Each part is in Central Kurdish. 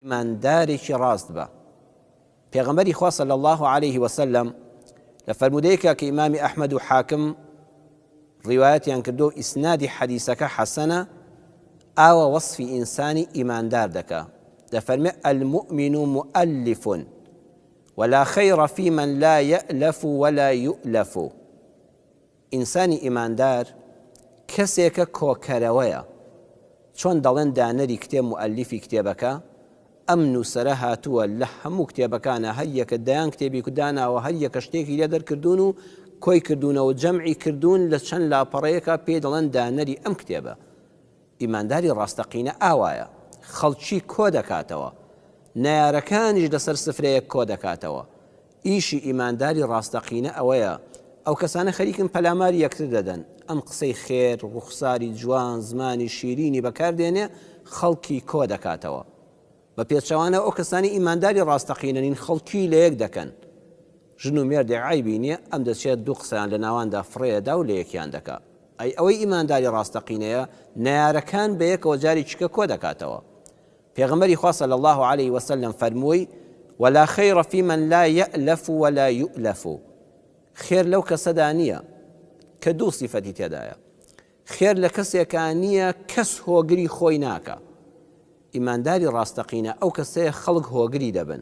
ئیماندارێکی ڕاست بە. پێغەمبەری خوا صلی اللە علیه وسلم لە فەرموودەیەکە کە ئیمامی ئەحمەد و حاکم ڕیوایەتیان کردو و ئیسنادی حەدیسەکە حەسەنە ئاوە وەصفی ئینسانی ئیماندار دەکا دەفەرمێ المؤمن مؤلف ولا خير في من لا يألف ولا يؤلف ئینسانی ئیماندار کەسێکە کۆکەرەوەیە، چۆن دەڵێن دانەری کتێب موئەلیفی کتێبەکە، ئەم نووسەرە هاتووە لە هەموو کتێبەکانا هەر یەکە دەیان کتێبی کو داناوە هەر یەکە شتێکی لێ دەرکردوون و کۆی کردوونەوە جەمعی کردوون لە چەند لاپەڕەیەکا پێی دەڵێن دانەری ئەم کتێبە ئیمانداری ڕاستەقینە ئاوایە خەڵکی کۆ دەکاتەوە نەیارەکانیش لەسەر سفرەیەک کۆ دەکاتەوە ئیشی ئیمانداری ڕاستەقینە ئەوەیە. ئەو کەسانە خەریکن پەلاماری یەکتر دەدەن. ئەم قسەی خێر، ڕوخساری جوان، زمانی شیرینی بەکار دێنێ خەڵکی کۆ دەکاتەوە. بە پێچەوانەوە ئەو کەسانەی ئیمانداری ڕاستەقینە نین خەڵکی لە یەک دەکەن. ژن و مێردێک عەیبی نییە، ئەم دەچێ دوو قسەیان لە ناواندا فڕێ ئەدا و لە یەکیان دەکا. ئەی ئەوەی ئیمانداری ڕاستەقینەیە نەیارەکان بە یەکەوە جارێکی کە کۆ دەکاتەوە. پێغەمبەری خوا صلی اللە علیە وسلم فەرمووی، ولا خیر فی من لا یەئلەف ولا یوئلەف، خێر لەو کەسەدا نییە، کە دوو سیفەتی تێدایە، خێر لە کەسێکا نییە کەس هۆگری خۆی ناکا، ئیمانداری ڕاستەقینە ئەو کەسەیە خەڵک هۆگری دەبن،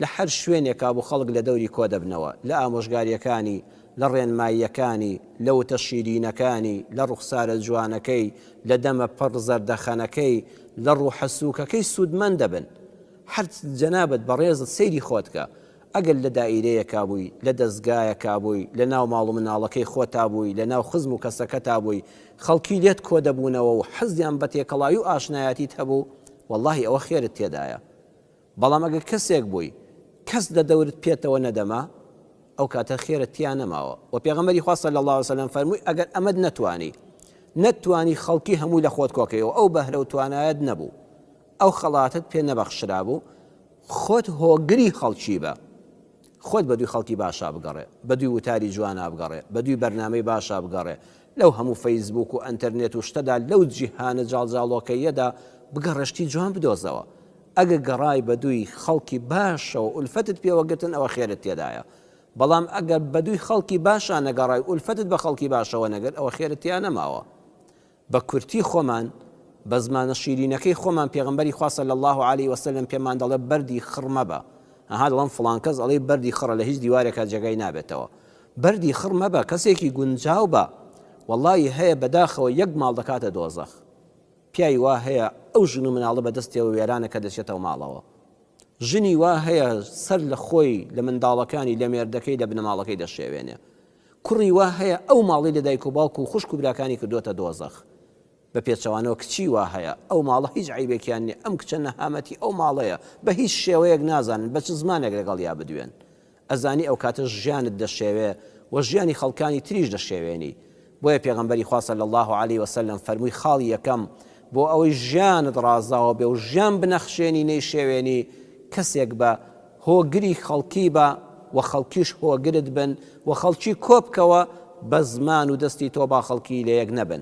لە هەر شوێنێکا بوو خەڵک لە دەوری کۆ دەبنەوە، لە ئامۆژگارییەکانی، لە ڕێنماییەکانی، لە وتە شیرینەکانی، لە ڕوخسارە جوانەکەی، لە دەمە پڕ زەردەخەنەکەی، لە ڕوحە سووکەکەی سوودمەند دەبن. هەر جەنابت بەڕێزت سەیری خۆت کە، ئەگەر لە دائیرەیەکا بووی، لە دەزگایەکا بووی، لە ناو ماڵ و مناڵەکەی خۆتا بووی، لە ناو خزم و کەسەکەتا بووی، خەڵکی لێت کۆ دەبوونەوە و حەزیان بە تێکەڵاوی و ئاشنایەتیت هەبوو، وەڵڵاهی ئەوە خێرت تێدایە. بەڵام ئەگەر کەسێک بووی کەس لە دەورت پێتەوە نەدەما ئەو کاتە خێرت تیا نەماوە وە پێغەمبەری خوا صلی اللە علیە و سلم فەرمووی ئەگەر ئەمەت نەتوانی نەتتوانی خەڵکی هەمووی لە خۆت کۆکەی و ئەو بەهرە و توانایەت نەبوو ئەو خەڵاتت پێ نەبەخشرابوو خۆت هۆگری خەڵکی بە خۆت بەدووی خەڵکی باشا بگەڕێ بەدووی وتاری جوانا بگەڕێ بەدووی بەرنامەی باشا بگەڕێ لەو هەموو فەیسبووک و ئەنتەرنێت و شتەدا لەو جیهانە جاڵجاڵۆکەییەدا بگەڕێ شتی جوان بدۆزەوە ئەگە گەڕای بەدووی خەڵکی باشەوە ئولفەتت پێوە گرتن ئەوە خێرت تێدایە بەڵام ئەگەر بەدووی خەڵکی باشا نەگەڕای ئولفەتت بە خەڵکی باشەوە نەگرت ئەوە خێرت تیا نەماوە بە کورتی خۆمان بە زمانە شیرینەکەی خۆمان پێغمبەری خوا صلی الله علیه وسلم پێمان دەڵێ بەردی خڕ مەبە ئەها دەڵم فڵان کەس ئەڵێ بەردی خڕە لە هیچ دیوارێکا جێگای نابێتەوە بەردی خڕ مەبە کەسێکی گونجاو بە وەڵی هەیە بەداخەوە یەک ماڵ دەکاتە دۆزەخ پیاوی وا هەیە ئەو ژن و مناڵە بە دەستیەوە وێرانە کە دەچێتەوە ماڵەوە. ژنی وا هەیە سەر لە خۆی، لە منداڵەکانی، لە مێردەکەی، لە بنەماڵەکەی دەشێوێنێ. کوڕی وا هەیە ئەو ماڵەی لە دایک و باوک و خوشک و براکانی کردووەتە دۆزەخ. بە پێچەوانەوە کچی وا هەیە ئەو ماڵە هیچ عەیبێکیان نیە، ئەم کچە نەهامەتی ئەو ماڵەیە، بە هیچ شێوەیەک نازانن بە چ زمانێک لەگەڵیا بدوێن. ئەزانی ئەوکاتە ژیانت دەشێوێ و ژیانی خەڵکانی تریش دەشێوێنی بۆیە پێغەمبەری خوا صلی اللە علیە وسلم فەرمووی خاڵی یەکەم بۆ ئەوەی ژیانت ڕازاوە بێ و ژیان بنەخشێنی نەیشێوێنی کەسێک بە هۆگری خەڵکی بە و خەڵکیش هۆگرت بن و خەڵکی کۆبکەوە بە زمان و دەستی تۆ با خەڵکی لەیەک نەبن.